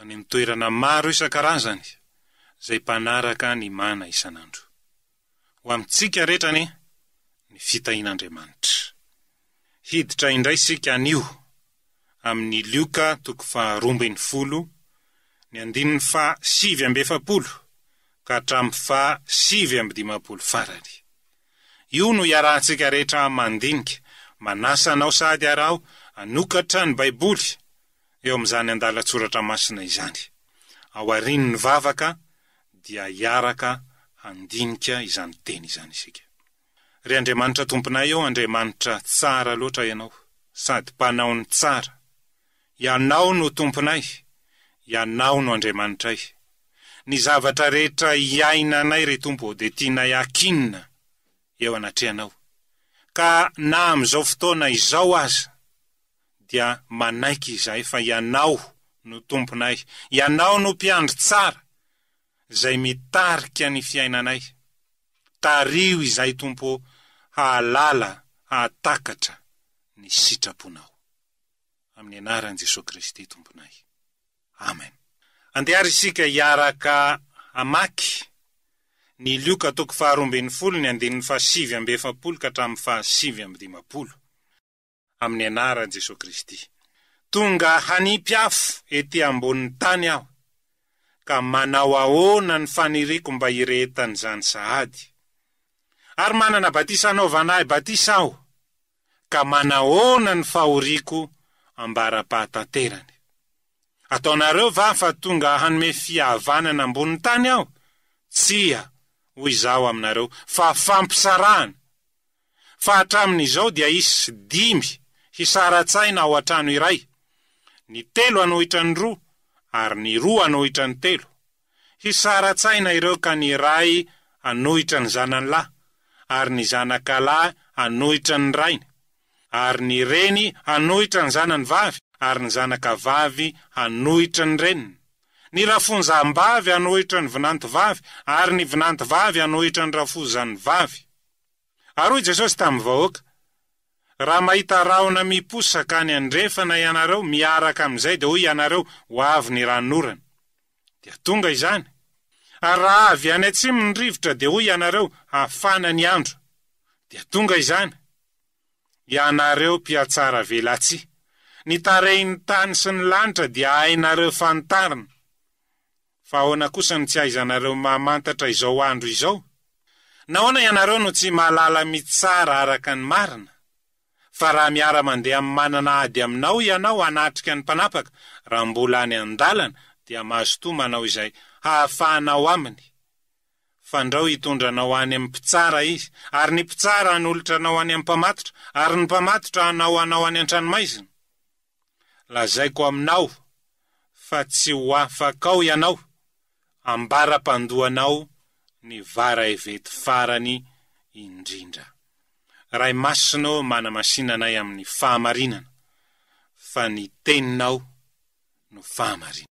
any amin'ny toerana maro isan-karazany izay mpanaraka ny mana isan'andro. Ho amintsika rehetra anie ny fitahian'Andriamanitra. Hiditra indray isika anio amin'ny Lioka toko faharoa ambin'ny folo, ny andininy faha sivy amby efapolo ka hatramin'ny faha sivy amby dimampolo farany. Io no iarahantsika rehetra mandinika, manasa anao sady araho hanokatra ny Baiboly eo amin'izany andalan-tsoratra masina izany. Ao aorian'ny vavaka dia hiaraka handinika izany teny izany isika. Ry Andriamanitra Tomponay ô, Andriamanitra tsara loatra Ianao, sady Mpanao ny tsara. Ianao no Tomponay, Ianao no Andriamanitray. Ny zavatra rehetra iainanay, ry Tompo ô, dia tianay hakinina eo anatrehanao, ka na amin'izao fotoana izao aza, dia manaiky izay fa Ianao no Tomponay, Ianao no Mpiandry tsara izay mitarika ny fiainanay. Tariho izay Tompo ô hahalala hahatakatra ny sitraponao. Amin'ny anaran'i Jesoa Kristy Tomponay. Amen. Andeha ary isika hiaraka hamaky ny Lioka toko faharoa ambin'ny folo ny andininy fahasivy amby efapolo ka hatramin'ny fahasivy amby dimampolo. amin'ny anaran'i Jesoa Kristy. Tonga hanipy afo ety ambonin'ny tany aho, ka manao ahoana ny faniriako mba hirehetan'izany sahady? Ary manana batisa anaovana ahy batisa aho, ka manahoana ny fahoriako ambara-pahatanterany? Ataonareo va fa tonga hanome fihavanana ambonin'ny tany aho? Tsia, hoy izaho aminareo, fa fampisarahana. fa hatramin'izao dia hisy dimy hisara-tsaina ao an-trano iray, ny telo hanohitra ny roa ary ny roa hanohitra ny telo. Hisara-tsaina ireo ka ny ray hanohitra ny zanany lahy ary ny zanaka lahy hanohitra ny rainy, ary ny reny hanohitra ny zanany vavy ary ny zanaka vavy hanohitra ny reniny. Ny rafonjambavy hanohitra ny vinantovavy ary ny vinantovavy hanohitra ny rafozanivavy. Ary hoy Jesosy tamin'ny vahoaka, Raha mahita rahona miposaka any andrefana ianareo, miaraka amin'izay dia hoy ianareo, Ho avy ny ranon'orana. Dia tonga izany. Ary raha avy any atsimo ny rivotra dia hoy ianareo, Hafana ny andro. Dia tonga izany. Ianareo mpihatsaravelatsihy! Ny tarehin'ny tany sy ny lanitra dia hainareo fanitarina. Fa ahoana kosa no tsy ahaizanareo mamantatra izao andro izao? Nahoana ianareo no tsy mahalala mitsara araka ny marina? Fa raha miara-mandeha amin'ny manana ady aminao ianao hanatrika ny mpanapaka raha mbola any an-dalana, dia mazotoa manao izay hahafahanao aminy. Fandrao hitondra anao any amin'ny mpitsara izy, ary ny mpitsara hanolotra anao any amin'ny mpamatotra, ary ny mpamatotra hanao anao any an-tranomaizina. Lazaiko aminao fa tsy ho afaka ao ianao ambara-pandohanao ny varahevety farany indrindra. Ray Masina ô manamasina anay amin'ny fahamarinana fa ny Teninao no fahamarinana.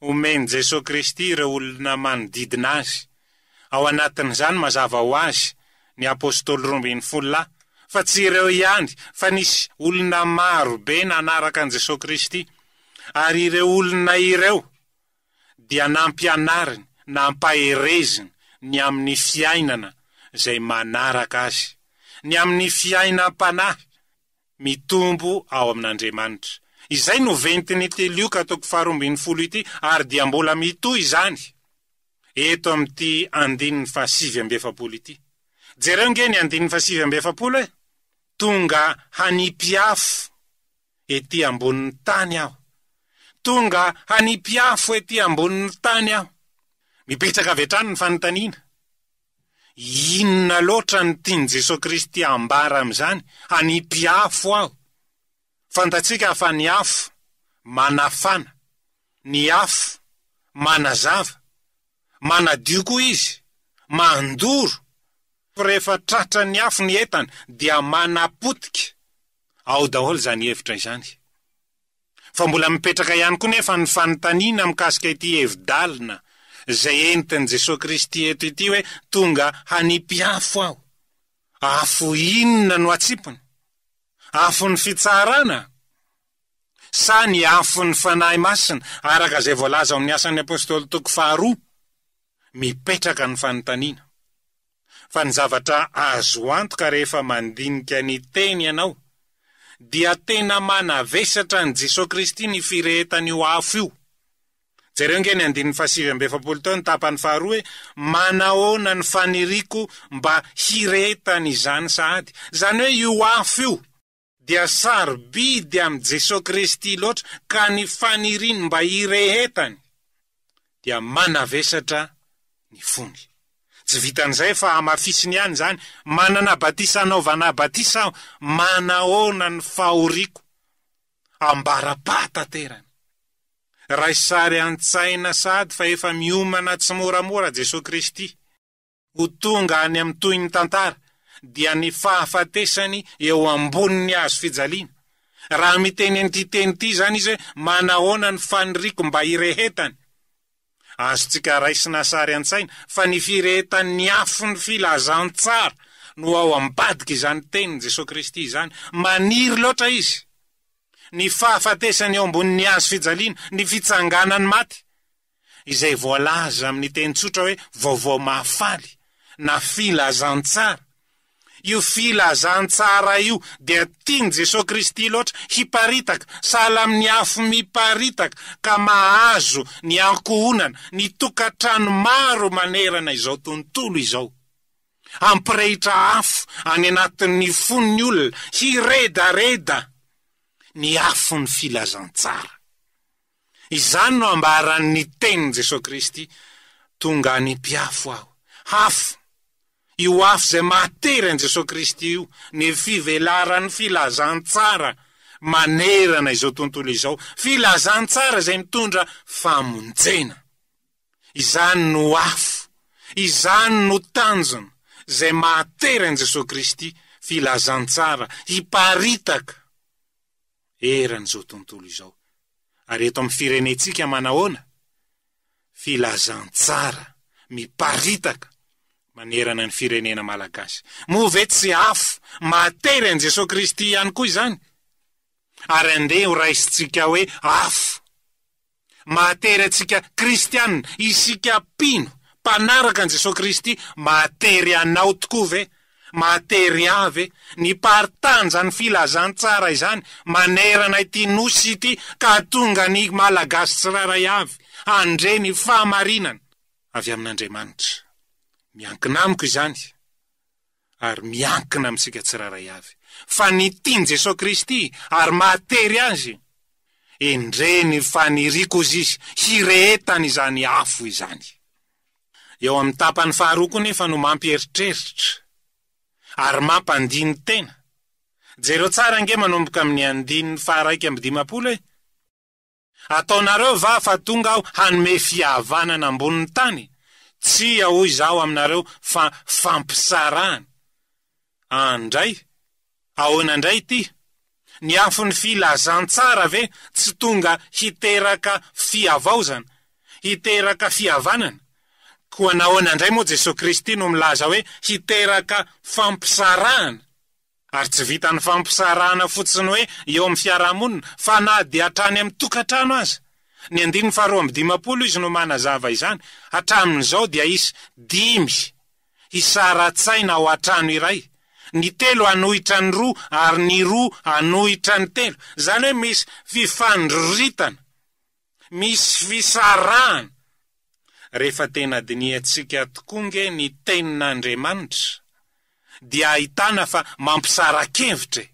omen'i Jesoa Kristy ireo olona manodidina Azy. Ao anatin'izany, mazava ho azy, ny Apôstôly roa ambin'ny folo lahy, fa tsy ireo ihany, fa nisy olona maro be nanaraka an'i Jesoa Kristy, ary ireo olona ireo dia nampianariny, nampahereziny ny amin'ny fiainana izay manaraka Azy, ny amin'ny fiainam-panahy. mitombo ao amin'Andriamanitra. Izay no ventin'ity Lioka toko faharoa ambin'ny folo ity ary dia mbola mitohy izany eto amin'ity andininy fahasivy amby efapolo ity. Jereo ange ny andininy fahasivy amby efapolo e! Tonga hanipy afo ety ambonin'ny tany aho. Tonga hanipy afo ety ambonin'ny tany aho. Mipetraka avy hatrany ny fanontaniana. Inona loatra no tian'i Jesoa Kristy hambara amin'izany? Hanipy afo aho. Fantatsika fa ny afo manafana, ny afo manazava, manadio koa izy, mandoro, fa rehefa tratran'ny afo ny entana dia manapotika ao daholo izany hevitra izany. Fa mbola mipetraka ihany koa nefa ny fanontaniana mikasika ity hevi-dalina izay entin'i Jesoa Kristy eto ity hoe tonga hanipy afo aho. Afo inona no atsipiny? Afon'ny fitsarana? Sa ny afon'ny Fanahy Masina? Araka izay voalaza ao amin'ny Asan'ny Apostoly toko faharoa, mipetraka ny fanontaniana. fa ny zavatra azo antoka rehefa mandinika ny Teny ianao, dia tena manavesatra an'i Jesoa Kristy ny firehetan'io afo io. Jereo nge ny andininy fahasivy amby efapolo teo ny tapany faharoa hoe, Manahoana ny faniriako mba hirehetan'izany sahady. Izany hoe io afo io. dia sarobidy amin'i Jesoa Kristy loatra ka ny faniriany mba hirehetany dia manavesatra ny fony. Tsy vitan'izay fa hamafisiny ihany izany, manana batisa anaovana batisa aho, manahoana ny fahoriako? Ambara-pahataterany. Raisy sary an-tsaina sahady fa efa miomana tsimoramora Jesoa Kristy. Ho tonga any amin'ny tohin'ny tantara dia ny fahafatesany eo ambonin'ny hazo fijaliana. Raha miteny an'ity teny ity izany izy hoe manahoana ny faniriako mba hirehetany? Azontsika raisina sary an-tsaina fa ny firehetan'ny afon'ny filazantsara no ao ambadik'izany tenin'i Jesoa Kristy izany. Maniry loatra Izy ny fahafatesany eo ambonin'ny hazo fijaliana, ny fitsanganan'ny maty. izay voalaza amin'ny teny tsotra hoe Vaovao Mahafaly na Filazantsara. Io Filazantsara io dia tian'i Jesoa Kristy loatra hiparitaka, sahala amin'ny afo miparitaka ka mahazo ny ankohonana, ny tokantrano maro manerana izao tontolo izao. Hampirehitra afo any anatin'ny fon'ny olona hiredareda ny afon'ny Filazantsara. Izany no ambaran'ny tenin'i Jesoa Kristy, Tonga any mpiafo Aho. Afo. Io afo izay mahatery an'i Jesoa Kristy io, ny fivelaran'ny filazantsara manerana izao tontolo izao, filazantsara izay mitondra famonjena. Izany no afo, izany no tanjona izay mahatery an'i Jesoa Kristy, filazantsara, hiparitaka. eran'izao tontolo izao. Ary eto amin'ny firenentsika manahoana? Filazantsara miparitaka manerana ny firenena malagasy. Moa ve tsy afo mahatery an'i Jesoa Kristy ihany koa izany? Ary andeha horaisintsika hoe afo. mahatery antsika kristiana, isika mpino, mpanaraka an'i Jesoa Kristy, mahatery anao tokoa ve? Mahatery ahy ve? Ny paritanjan'ny filazantsara izany manerana ity Nosy ity ka hatonga ny Malagasy tsirairay avy handre ny fahamarinana avy amin'Andriamanitra. Miankina amiko izany. ary miankina amintsika tsirairay avy fa ny tian'i Jesoa Kristy ary mahatery Azy, endrey ny faniriako hozy izy hirehetany izany afo izany. Eo amin'ny tapany faharoa koa nefa no mampieritreritra ary mampandini-tena. Jereo tsara ange manomboka amin'ny andininy faharaika amby dimampolo e! Ataonareo va fa tonga aho hanome fihavanana ambonin'ny tany? Tsia hoy izaho aminareo fa fampisarahana. Andray, ahoana indray ity? Ny afon'ny filazantsara ve tsy tonga hiteraka fihavaozana, hiteraka fihavanana? Koa nahoana indray moa Jesoa Kristy no milaza hoe hiteraka fampisarahana? Ary tsy vitan'ny fampisarahana fotsiny hoe eo amin'ny fiarahamonina fa na dia hatrany amin'ny tokantrano aza. Ny andininy faharoa amby dimampolo izy no manazava izany, Hatramin'izao dia hisy dimy hisara-tsaina ao an-trano iray, ny telo hanohitra ny roa ary ny roa hanohitra ny telo, izany hoe misy fifandroritana. Misy fisarahana! Rehefa tena dinihantsika tokoa ange ny Tenin'Andriamanitra dia ahitana fa mampisara-kevitra e!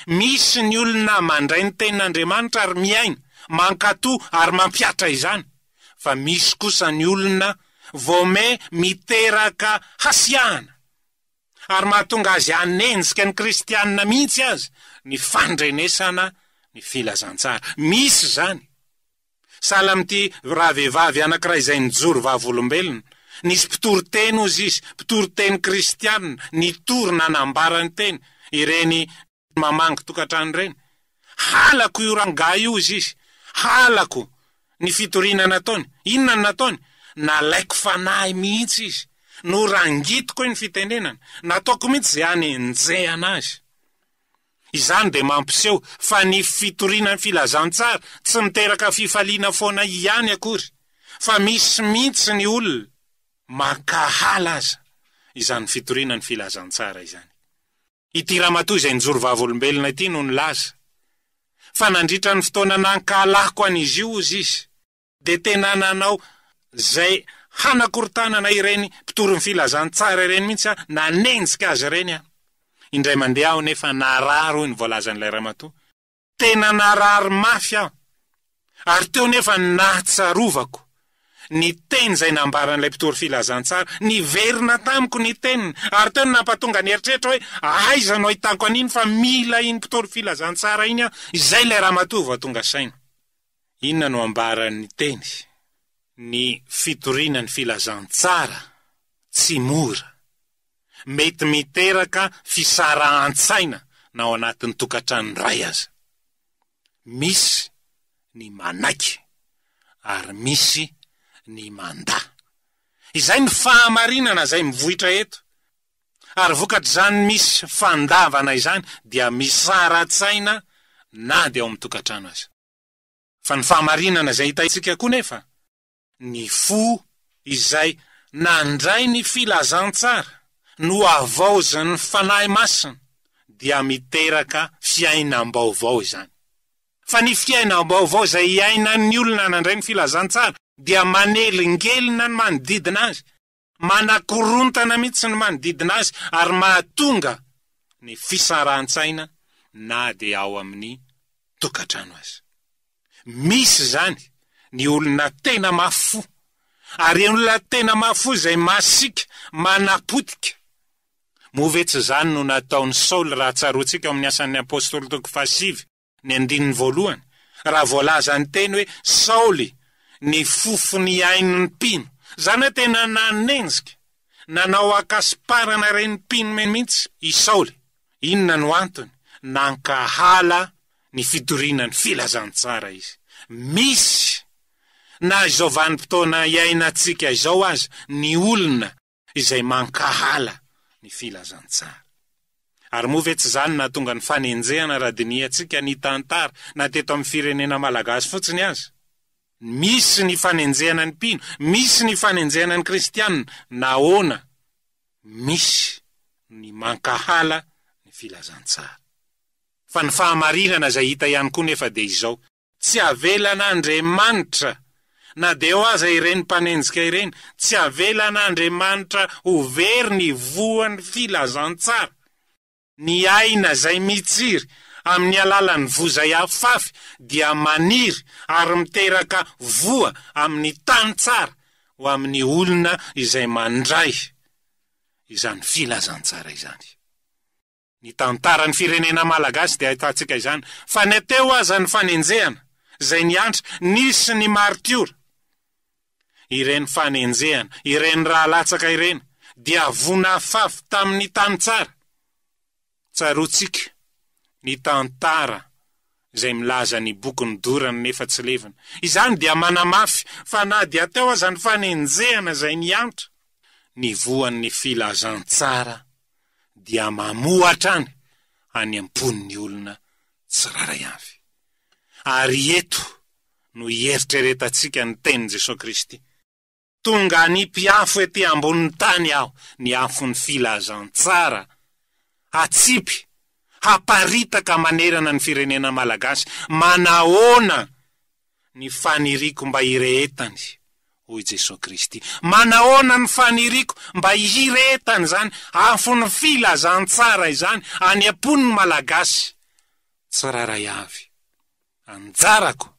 Misy ny olona mandray ny Tenin'Andriamanitra ary miaina, mankato ary mampihatra izany, fa misy kosa ny olona voame miteraka hasiahana. ary mahatonga azy hanenjika ny kristianina mihitsy aza ny fandrenesana ny filazantsara. Misy izany. Sahala amin'ity ravehivavy anankiray izay nijoro vavolombelona. Nisy mpitory teny, hozy izy, mpitory teny kristianina, nitory nanambara ny teny, ireny mamangy tokantrano ireny. Halako io rangahy io hozy izy. Halako ny fitoriana nataony. Inona no nataony? Nalaiko fanahy mihitsy izy. Norangitiko ny fitenenany. Nataoko mihitsy izay hanenjehana azy. Izany dia mampiseho fa ny fitoriana ny filazantsara tsy miteraka fifaliana foana ihany akory fa misy mihitsy ny olona mankahala aza izany fitoriana ny filazantsara izany. ity ramatoa izay nijoro vavolombelona ity no nilaza fa nandritra ny fotoana nankahalako an'izy io ozy izy dia tena nanao izay hanakorontanana ireny mpitory ny filazantsara ireny mihitsy aho, nanenjika azy ireny aho. Indray mandeha aho nefa narary hoy ny voalazan'ilay ramatoa. Tena narary mafy aho, ary teo nefa ny nahatsarovako ny teny izay nambaran'ilay mpitory filazantsara. Niverina tamiko ny teniny, ary teo no nampatonga ny eritreritra hoe, Aiza no ahitako an'iny fa mila iny mpitory filazantsara iny aho? Izay ilay ramatoa vao tonga saina. Inona no ambaran'ny teny? Ny fitoriana ny filazantsara tsy mora. mety miteraka fisarahan-tsaina na ao anatin'ny tokantrano iray aza. Misy ny manaiky ary misy ny mandà. Izay ny fahamarinana izay mivoitra eto. Ary vokatr'izany misy fandavana izany dia misara-tsaina na dia ao amin'ny tokantrano aza. Fa ny fahamarinana izay hitantsika koa nefa Ny fo izay nandray ny filazantsara nohavaozin'ny Fanahy Masina dia miteraka fiainam-baovao izany. Fa ny fiainam-baovao izay iainan'ny olona nandray ny filazantsara dia manelingelina ny manodidina azy manakorontana mihitsy ny manodidina azy ary mahatonga ny fisarahantsaina na dia ao amin'ny tokantrano aza. Misy izany ny olona tena mafy fo ary olona tena mafy fo izay masiaka manapotika. Moa ve tsy izany no nataon'i Saoly raha tsaroantsika ao amin'ny Asan'ny Apostoly toko fahasivy? Ny andininy voalohany, raha voalaza ny teny hoe Saoly ny fofon'ny ain'ny mpino, izany hoe tena nanenjika, nanao an-kasomparana ireny mpino mihitsy i Saoly. Inona no antony? Nankahala ny fitoriana ny filazantsara izy. Misy, na izao vanim-potoana iainantsika izao aza, ny olona izay mankahala ny filazantsara. Ary moa ve tsy izany nahatonga ny fanenjehana raha dinihantsika ny tantara na teto amin'ny firenena malagasy fotsiny aza? Misy ny fanenjehana ny mpino, misy ny fanenjehana ny kristiana, nahoana misy ny mankahala ny filazantsara? Fa ny fahamarinana izay hita ihany koa nefa dia izao, Tsy avelan'Andriamanitra, na dia eo aza ireny mpanenjika ireny, tsy avelan'Andriamanitra ho very ny voan'ny filazantsara. Ny aina izay mitsiry amin'ny alalan'ny voa izay afafy dia maniry ary miteraka voa amin'ny tany tsara ho amin'ny olona izay mandray izany filazantsara izany. Ny tantaran'ny firenena malagasy dia ahitantsika izany, fa na teo aza ny fanenjehana, izay niantra, nisy ny maritiora. Ireny fanenjehana, ireny ra latsaka ireny, dia vonafafy tamin'ny tany tsara. Tsaroantsika ny tantara izay milaza ny bokin'ny dorana nefa tsy levona. Izany dia manamafy fa na dia teo aza ny fanenjehana izay niantra, ny voan'ny filazantsara dia mamoa hatrany any am-pon'ny olona tsirairay avy. Ary eto no hieritreretantsika ny tenin'i Jesoa Kristy, Tonga hanipy-afo ety ambonin'ny tany Aho, ny afon'ny filazantsara, hatsipy, haparitaka manerana ny firenena malagasy. Manahoana? ny faniriako mba hirehetany, hoy Jesoa Kristy. Manahoana ny faniriako mba hirehetany izany afon'ny filazantsara izany any am-pon'ny Malagasy tsirairay avy? Anjarako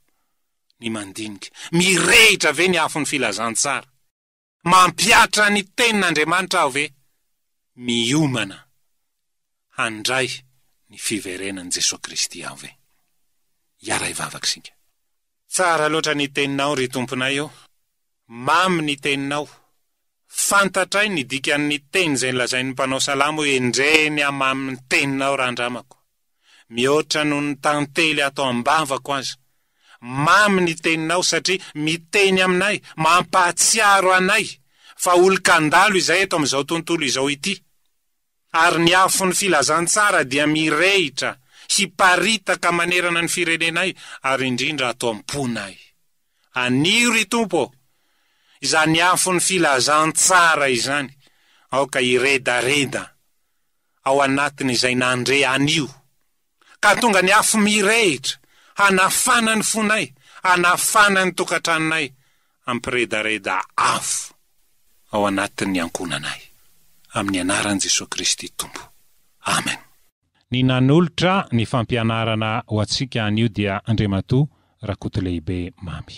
ny mandinika. Mirehitra ve ny afon'ny filazantsara? Mampihatra ny Tenin'Andriamanitra aho ve? Miomana handray ny fiverenan'i Jesoa Kristy aho ve? Hiara hivavaka isika. Tsara loatra ny Teninao, ry Tomponay ô! Mamy ny Teninao. Fantatray ny dikan'ny teny izay nolazain'ny mpanao salamo hoe, Endrey ny hamamin'ny Teninao, randramako. mihoatra noho ny tantely ato am-bavako aza. Mamy ny teninao satria miteny aminay, mampahatsiaro anay fa olon-kandalo izahay eto amin'izao tontolo izao ity. Ary ny afon'ny filazantsara dia mirehitra, hiparitaka manerana ny firenenay ary indrindra ato am-ponay. Anio, ry Tompo ô, izany afon'ny filazantsara izany, aoka hiredareda. ao anatin'izay nandre anio, ka tonga ny afo mirehitra hanafana ny fonay, hanafana ny tokantranonay, hampiredareda afo ao anatin'ny ankohonanay. Amin'ny anaran'i Jesoa Kristy Tompo. Amen. Ny nanolotra ny fampianarana ho antsika anio dia Andriamatoa Rakotolehibe Mamy.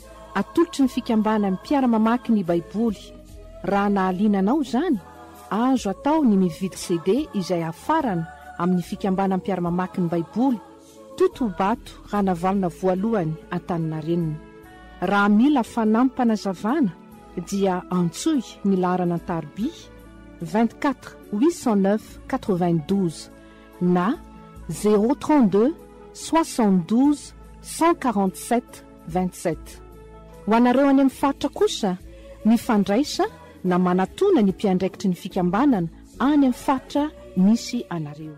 Atolotry ny Fikambanan'ny Mpiara-mamaky ny Baiboly. Raha nahaliana anao izany, azo atao ny mividy CD izay hafarana amin'ny Fikambanan'ny Mpiara-mamaky ny Baiboly, Totobato Ranavalona Voalohany Antaninarenina. Raha mila fanampim-panazavana dia antsoy ny laharana an-tarobia 24 809 92 na 032 72 147 27. Ho anareo any amin'ny faritra kosa, mifandraisa na manatona ny mpiandraikitry ny fikambanana any amin'ny faritra misy anareo.